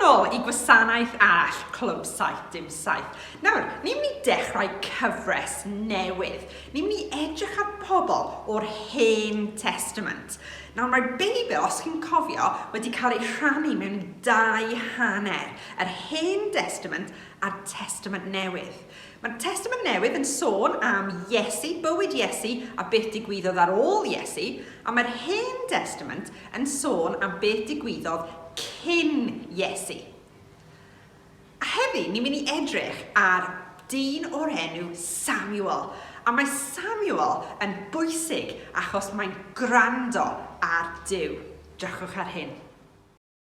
nôl i gwasanaeth arall, Clwb 77. Nawr, ni'n mynd i dechrau cyfres newydd. Ni'n mynd i edrych ar pobl o'r Hen Testament. Nawr, mae'r Beibl, os chi'n cofio, wedi cael ei rhannu mewn dau hanner, yr Hen Testament a'r Testament Newydd. Mae'r Testament Newydd yn sôn am Iesu, bywyd Iesu a beth digwyddodd ar ôl Iesu, a mae'r Hen Destament yn sôn am beth digwyddodd cyn Iesu. A heddi, ni'n mynd i edrych ar dyn o'r enw Samuel, a mae Samuel yn bwysig achos mae'n gwrando ar Duw. Drychwch ar hyn.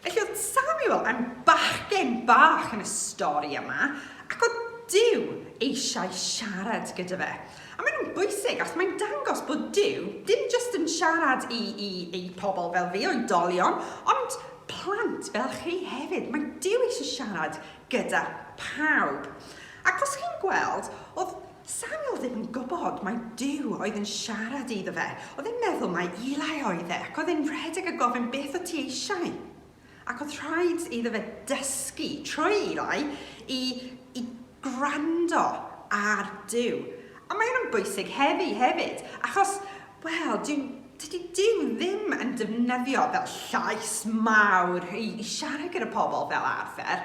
Felly oedd Samuel yn bachgen bach yn y stori yma, ac oedd Dyw eisiau siarad gyda fe. A maen nhw'n bwysig, achos mae'n dangos bod Dyw dim jyst yn siarad i, i, i pobl fel fi, oedolion, ond plant fel chi hefyd. Mae Dyw eisiau siarad gyda pawb. Ac os chi'n gweld, oedd Samuel ddim yn gwybod mai Duw oedd yn siarad iddo fe. Oedd e'n meddwl mai Eli oedd e, ac oedd e'n rhedeg a gofyn beth o't ti eisiau. Ac oedd rhaid iddo fe dysgu trwy Eli i, i gwrando ar Duw. A mae hyn yn bwysig heddi hefyd, achos, wel, dyw, dydy Duw ddim yn defnyddio fel llais mawr i, i siarad gyda pobl fel arfer.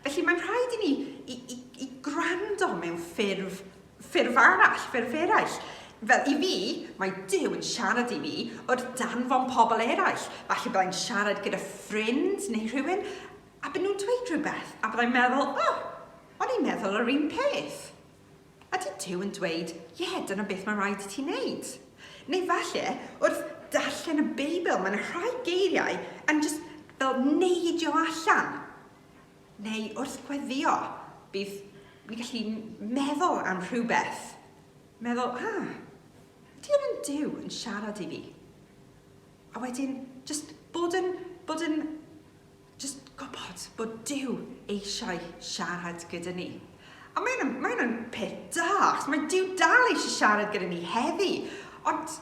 Felly mae'n rhaid i ni i, i i gwrando mewn ffurf, ffurf arall, ffurf eraill. Fel i fi, mae Duw yn siarad i mi o'r danfon pobl eraill. Falle byddai'n siarad gyda ffrind neu rhywun, a bydden nhw'n dweud rhywbeth, a byddai'n meddwl, o, oh, o'n i'n meddwl yr un peth. Ydy Duw yn dweud, ie, yeah, dyna beth mae'n rhaid i ti wneud. Neu falle, wrth darllen y Beibl, mae'n rhai geiriau yn just fel neidio allan. Neu wrth gweddïo, bydd ni'n gallu meddwl am rhywbeth. Meddwl, ah, ydy hwn yn Duw yn siarad i fi? A wedyn, just bod yn, bod yn, just gwybod bod Duw eisiau siarad gyda ni. A mae hwnna'n mae hwnna'n peth da, achos mae Duw dal eisiau siarad gyda ni heddi. Ond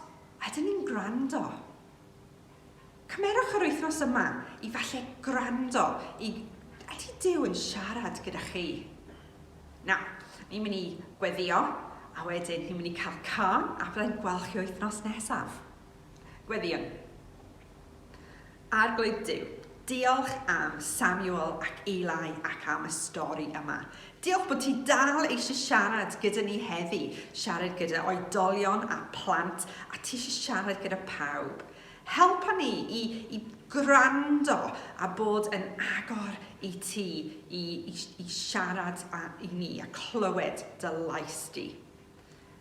ydyn ni'n gwrando? Cymerwch yr wythnos yma i falle gwrando i Ydy Duw yn siarad gyda chi? Nawr, ni'n mynd i gweddio, a wedyn ni'n mynd i cael can, a byddai'n gweld chi wythnos nesaf. Gweddiwn. Arglwydd Duw, Diolch am Samuel ac Eli ac am y stori yma. Diolch bod ti dal eisiau siarad gyda ni heddi, siarad gyda oedolion a plant a ti eisiau siarad gyda pawb. Helpa ni i, i gwrando a bod yn agor i ti i, i, i siarad a, i ni a clywed dy lais di.